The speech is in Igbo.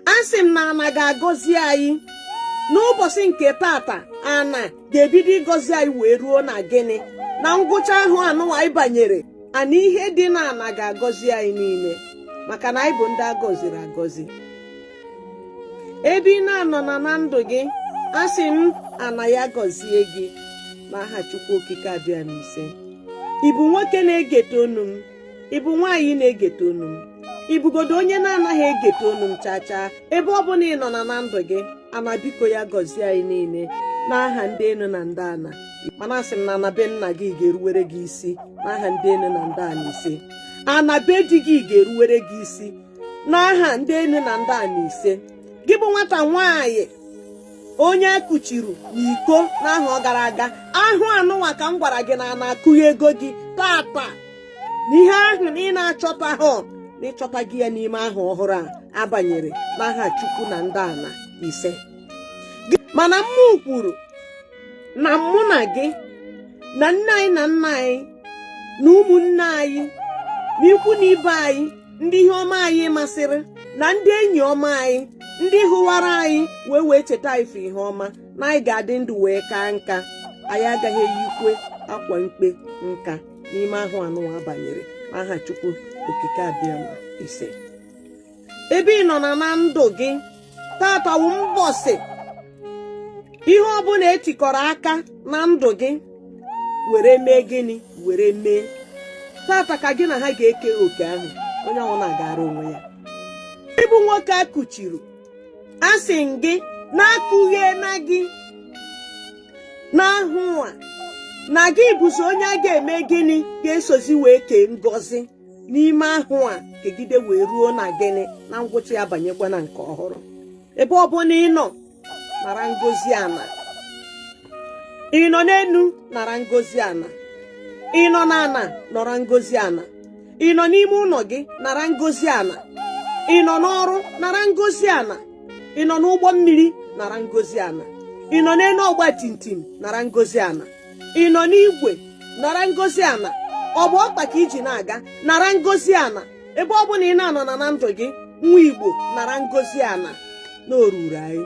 asị m na ana ga-agọzi anyị n'ụbọsị nke tata ana ga-ebido ịgọzi anyị wee ruo na gịnị na ngwụcha ahọ a nụwa anyị banyere ana ihe dị na ana ga-agọzi anyị niile maka na anyị bụ ndị agọziri agọzi ebe ị na-anọ na na ndụ gị asị m ana ya gọzie gị n'aha Chukwu Okike Abịama ise ị bụ nwoke na-egete onu m ị bụ nwaanyị na-egete onu m ị bụgodo onye na-anaghị egete onu m chaa chaa ebe ọ bụna ị nọ na na ndụ gị ana biko ya gọzie anyị niile n'aha ndị enu na ndị ana mana asị m na ana be nna gị ga-eruwere gị isi n'aha ndị enu na ndị ana ise ana be di gị ga-eruwere gị isi n'aha ndị enu na ndị ana ise gị bụ nwata nwaanyị onye a kụchiri n'iko n'ahọ gara aga ahọ a nụnwa ka m gwara gị na ana akụghego gị tata na ihe ahụ na ị na-achọtahọ na ị chọtago ya n'ime ahọ ọhụrụ a a banyere n'aha chukwu na ndị ana ise mana mụ kwuru na mụ na gị na nne anyị na nna anyị na ụmụnne anyị na ikwu na ibe anyị ndị ihe ọma anyị masịrị na ndị enyi ọma anyị ndị hụwara anyị wee wee cheta anyị ihe ọma na anyị ga-adị ndụ wee kaa nka anyị agaghị eyikwe akwa mkpe nka n'ime ahọ a nụwa a banyere n'aha Chukwu okike Abịama ise ebe ị nọ na na ndụ gị tata wụ mbọsị ihe ọbụna e tikọrọ aka na ndụ gị were mee gịnị were mee tata ka gị na ha ga-eke oke ahụ onye ọwụna agara onwe ya ị bụ nwoke a kụchiri asị m gị na a kụgheena gị n'ahọ a na gị bụzi onye a ga-eme gịnị ga-esozi wee kee ngọzi n'ime ahọ a kegide wee ruo na gịnị na ngwụcha ya banyekwa na nke ọhụrụ ebe ọ bụna ị nọ nara ngọzi ana ị nọ n'enu nara ngọzi ana ị nọ n'ana nara ngọzi ana ị nọ n'ime ụnọ gị nara ngọzi ana ị nọ n'ọrụ nara ngọzi ana ị nọ n'ụgbọ mmiri nara ngọzi ana ị nọ n'enu ọgba tum tum nara ngọzi ana ị nọ n'igwe nara ngọzi ana ọ bụ ọkpa ka i ji na-aga nara ngọzi ana ebe ọ bụna ị na-anọ na na ndụ gị nwa Igbo nara ngọzi ana na o ruuru anyị